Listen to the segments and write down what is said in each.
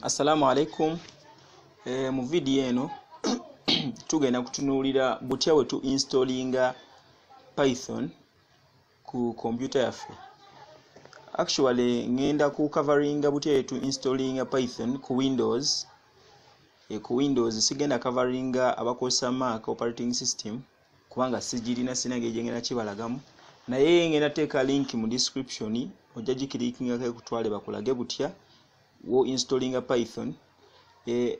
assalamu alaikum e, mu vidiyo eno tugenda kutunuulira butya we tu installinga python ku computer yaffe actually ngenda ku coveringa butya yetu installinga python ku windows e, ku windows sigenda coveringa abakozesa mac operating system kubanga sigirina sina ngeri gyengenda kibalagamu naye ngenda teeka link mu description ojja gikirikingako ekutwale bakulage butya wo installinga python e,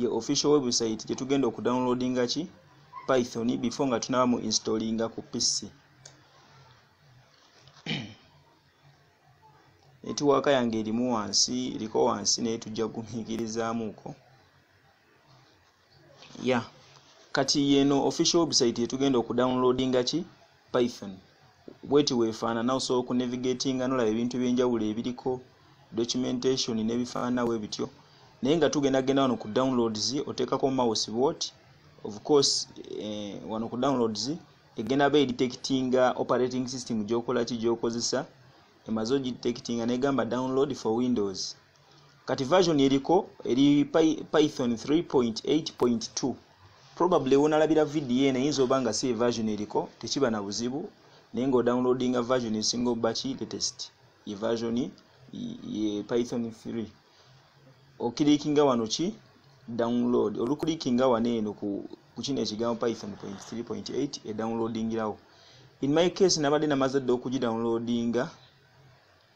ye official website gye tugenda okudownloadinga ki python before nga tunaba mu installinga ku pc netiwaaka yange erimu wansi eriko wansi naye tujja kugumiikirizaamuuko ya yeah. kati yeno official website yetugenda okudownloadinga ki python bweti wefaanana osobola okunavigatinga nolaba ebintu ebyenjawulo ebiriko documentation nebifaanana we bityo naye nga tugenda genda wano ku downloads oteekako mouse bwoti of course eh, wano ku downloads egenda ba edetectinga operating system gyokola ki gyokozesa emaze ogidetectinga negamba download for windows kati version eriko eri python 3.8.2 probably wonalabira video eno eyinza oba nga si eversion eriko tekiba na buzibu naye nga odownloadinga version esinga obaki latest ye version ye python 3 okilikinga wano ki download olukulikinga wano eno ku kino ekigambo python 3.8 edownloadingirawo in my case nabadde namaze dda okugidownloadinga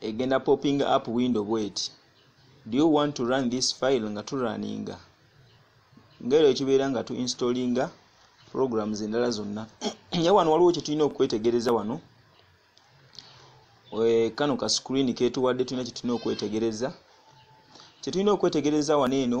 egenda popping up window bweti do you want to run this file nga turaninga ngaero ekibeera nga tu installinga programs endala zonna naye wano waliwo kyetulina okwetegereza wano eh, kano ka screen ketuwadde tulina kyetulina okwetegereza kyetulina okwetegereza wano eno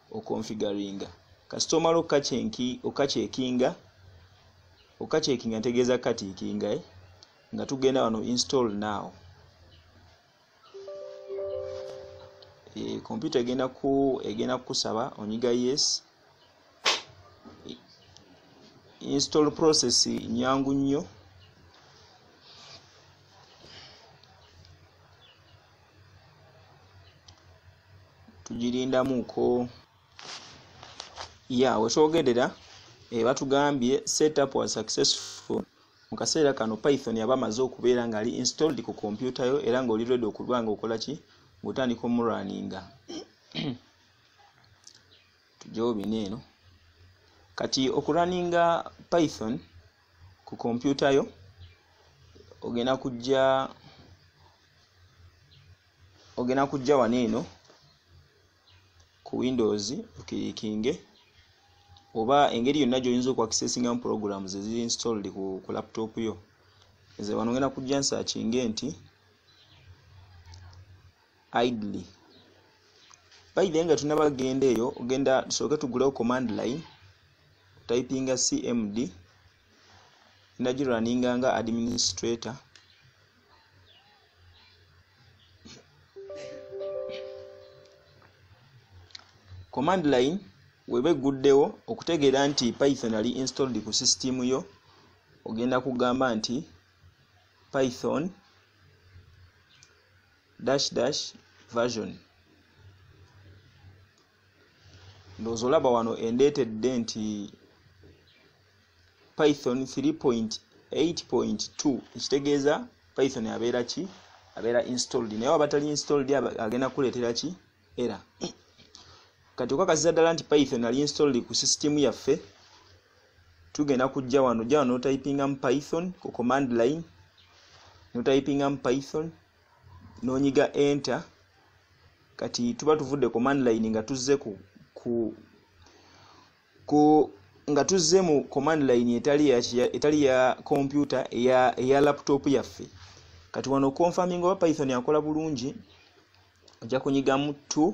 okonfigaringa kasita omala okakyekinga okakyekinga ntegeeza kukatiikinga eh? nga tugenda wano install now kompyuta eh, egenda ku egenda kukusaba onyiga yes install process nyangu nnyo tugirindamuko ya wetwogerera eh, batugambye set up was successful mu kaseera kano python yaba amaze okubeera nga ali installed ku kompyuta yo era nga oli ready okuba nga okola ki ngaotandika omuraninga tujewo bina eno kati okuraninga python ku kompyuta yo ogenda kujja ogenda kujja wano eno ku windows okirikinge oba engeri yonna gyoyinza okuakisesingamu program zeziri installed ku, ku laptop yo nze wano ogenda kujja nsakinge nti idly bayidhe nga tunaba genda eyo ogenda tusooke tugulewo command line typinga cmd ndagirwaninga nga administrator command line weba egguddewo okutegeera nti python ali installed ku system yo ogenda kugamba nti python dash dash version ndowooza olaba wano endeetedde nti python 3.8.2 ekitegeeza python abeera ki abeera installed naye waba tali installed agenda kuleetera ki era kati okakasiza ddala nti python ali installed ku system yaffe tugenda kujja wano jja wano notypingamu python ku command line notypingamu python nonyiga enter kati tuba tuvudde ku manline nga tuzze ku, ku, ku nga tuzze mu command line etali ya, etali ya kompyuta eya, eya laptop yaffe kati wano confirming oba python akola bulungi ojja kunyigamu to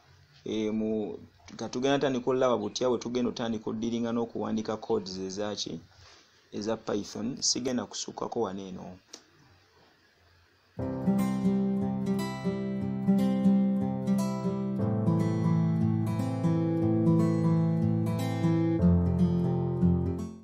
e, mu nga tugenda tandika olaba butya bwe tugenda otandika odiringa n'okuwandika codes ezaki eza python sigenda kusukkako wano eno